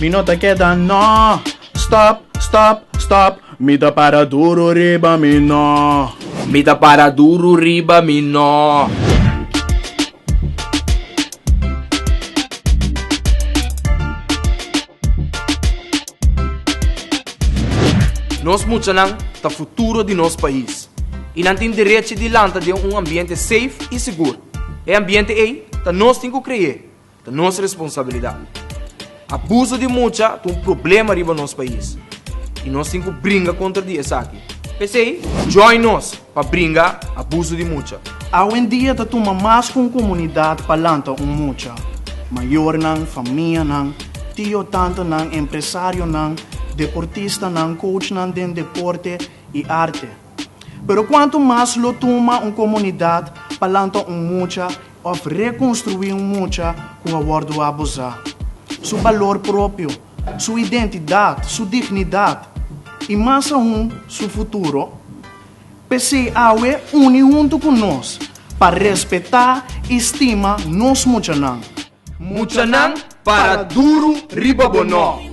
Mi no ta keda no Stop, stop, stop Mi ta para duru riba mi no Mi ta para duru riba mi no. Nos muchanan ta futuro di nos pais i nan tin derechi di lanta den un ambiente safe i sigur. E ambiente ei ta nos tin ku kre'é. Ta nos responsabilidat. Abuso di mucha ta un problema riba nos pais y nos tin cu bringa contra di esaki. P'esey, join nos pa bringa abuso di mucha. Awendia ta tuma mas cu un comunidad pa lanta un mucha. Mayornan, famianan, tio, tantanan, empresarionan, deportistanan, coachnan den deporte y arte. Pero cuanto mas lo tuma un comunidad pa lanta un mucha, òf rekonstruí un mucha ku a wòrdu abusá, su balor propio, su identidat, su dignidat i mas aún su futuro. P'esei awe uni huntu ku nos pa respetá i stima nos muchanan. Muchanan Para duru riba bo no.